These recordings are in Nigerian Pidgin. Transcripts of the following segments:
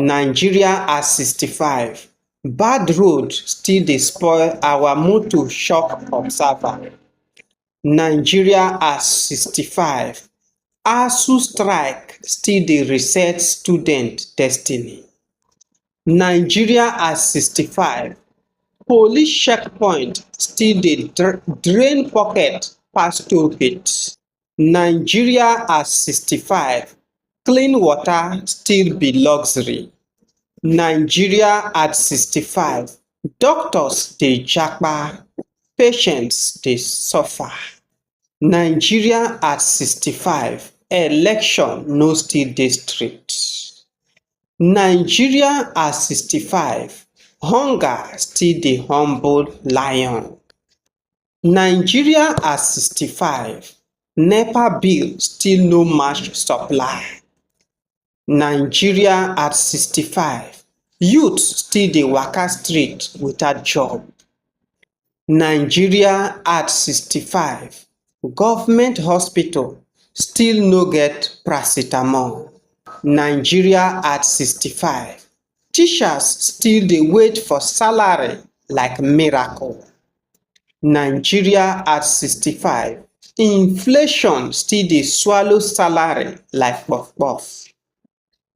Nigeria at 65, bad road still dey spoil our motor shock observer. Nigeria at 65, ASUU strike still dey reset student destiny. Nigeria at 65, police checkpoint still dey drain pocket pass toll gate. Nigeria at 65, clean water still be luxury. Nigeria at 65, doctors dey japa, patients dey suffer. Nigeria at 65, election no still dey straight. Nigeria at 65, hunger still dey humble lion. Nigeria at sixty five, nepa bill still no match supply. Nigeria at sixty five, youth still dey waka street without job. Nigeria at sixty five, government hospital still no get paracetamol. Nigeria at sixty five, Teachers still dey wait for salary like miracle. Nigeria at sixty five, inflation still dey swallow salary like puff puff.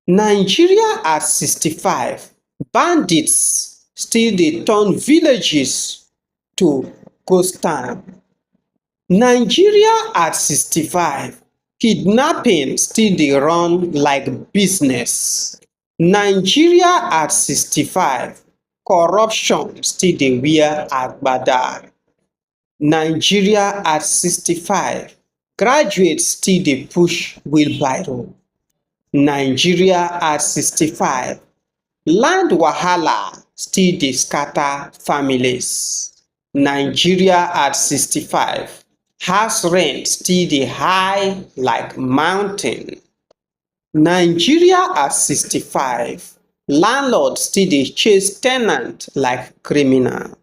Nigeria at sixty five, bandit still dey turn villages to ghost town. Nigeria at sixty five, kidnapping still dey run like business. Nigeria at 65, corruption still dey wear agbada. Nigeria at 65, graduates still dey push wheelbarrow. Nigeria at 65, land wahala still dey scatter families. Nigeria at 65, house rent still dey high like mountain. Nigeria at 65, landlord still dey chase tenant like criminal.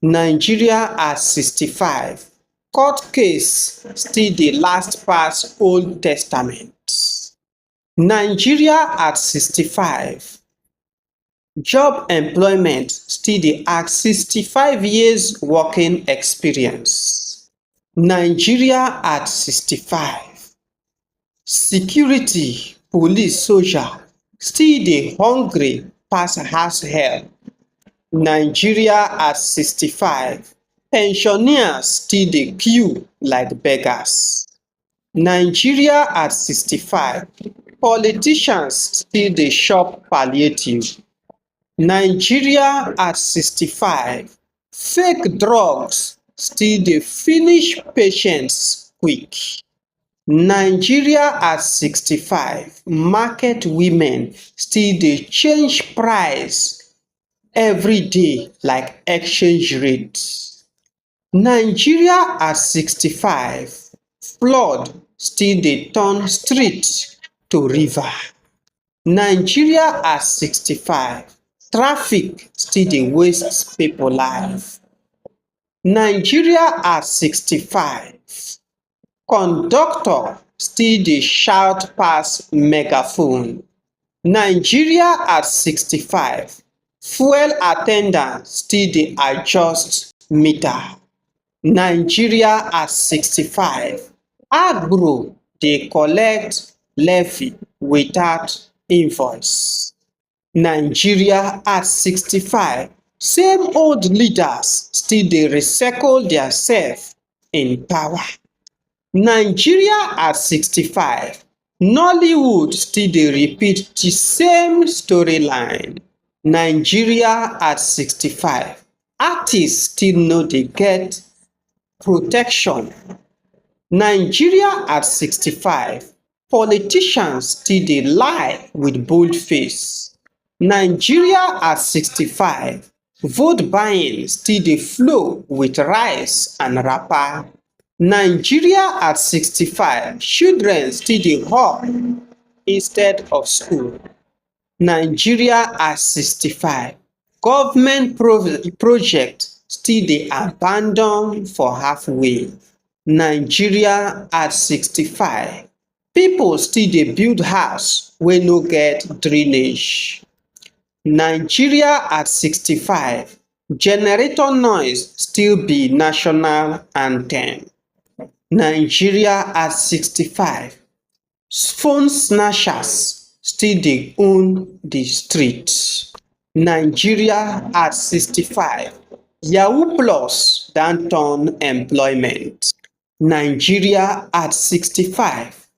Nigeria at 65, court case still dey last pass old testament. Nigeria at 65, Job employment still dey ask 65 years working experience. Nigeria at 65. Security, police, soldier still dey hungry pass house help. Nigeria at 65. Pensioners still dey queue like beggars. Nigeria at 65, politicians still dey chop palliative. Nigeria at 65, fake drugs still dey finish patients quick. Nigeria at 65, market women still dey change price everyday like exchange rate. Nigeria at 65, flood still dey turn street to river. Nigeria at 65, traffic still dey waste people life. Nigeria at 65, Conductor still dey shout pass megaphone Nigeria at 65, fuel at ten dant still dey adjust meter Nigeria at 65, agro dey collect levy without invoice nigeria at 65 same old leaders still dey recycle dia sef in power nigeria at 65 nollywood still dey repeat di same storyline nigeria at 65 artistes still no dey get protection nigeria at 65 Politicians still dey lie with bold face, Nigeria at sixty five, vote buying still dey flow with rice and wrapper, Nigeria at sixty five, children still dey hawk instead of school. Nigeria at 65, government project still dey abandon for half way. Nigeria at 65, people still dey build house wey no get drainage. Nigeria at 65, generator noise still be national anthem. Nigeria at 65, phone snatchers still dey own the streets. Nigeria at sixty five, yahoo plus don turn employment. Nigeria at sixty five,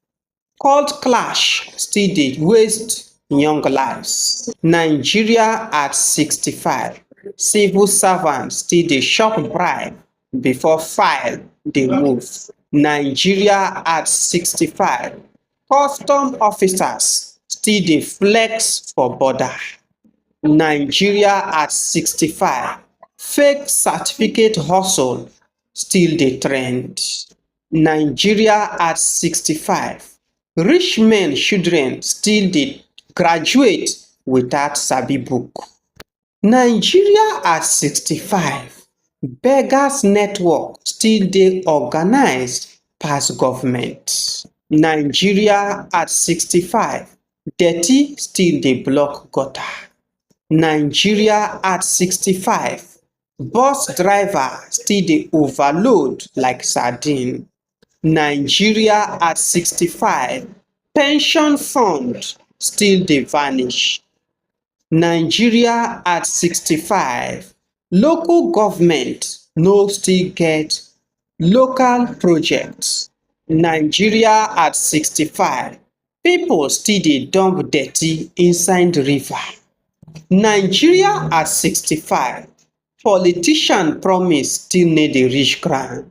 court clash still dey waste young lives. Nigeria at sixty five, civil servants still dey chop bribe before file dey move nigeria at sixty five custom officers still dey flex for border nigeria at sixty five fake certificate hustle still dey trend nigeria at sixty five rich men children still dey graduate without sabi book Nigeria at 65, beggars network still dey organised pass government. Nigeria at 65, dirty still dey block gutter. Nigeria at 65, bus driver still dey overload like sardine. Nigeria at 65, pension fund still dey vanish. Nigeria at 65, local government no still get local projects. Nigeria at 65, people still dey dump dirty inside river. Nigeria at 65, politician promise still no dey reach ground.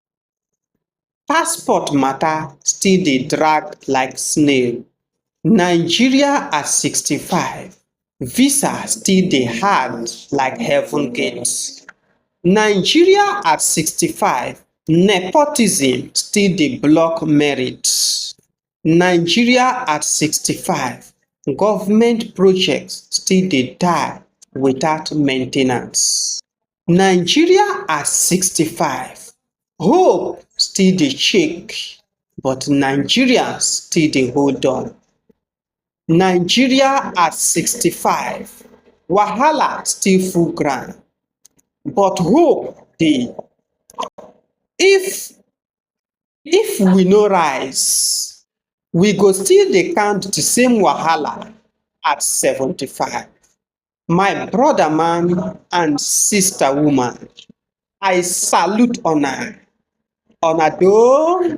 Passport matter still dey drag like snail. Nigeria at sixty five, visa still dey hard like heaven gate. Nigeria at sixty five, nepotism still dey block merit. Nigeria at sixty five, government project still dey die without maintenance. Nigeria at 65, hope still dey shake but Nigerians still dey hold on. Nigeria at 65, wahala still full ground but hope dey. If if we no rise, we go still dey count the same wahala at 75. My brother man and sister woman, I salute una. Una do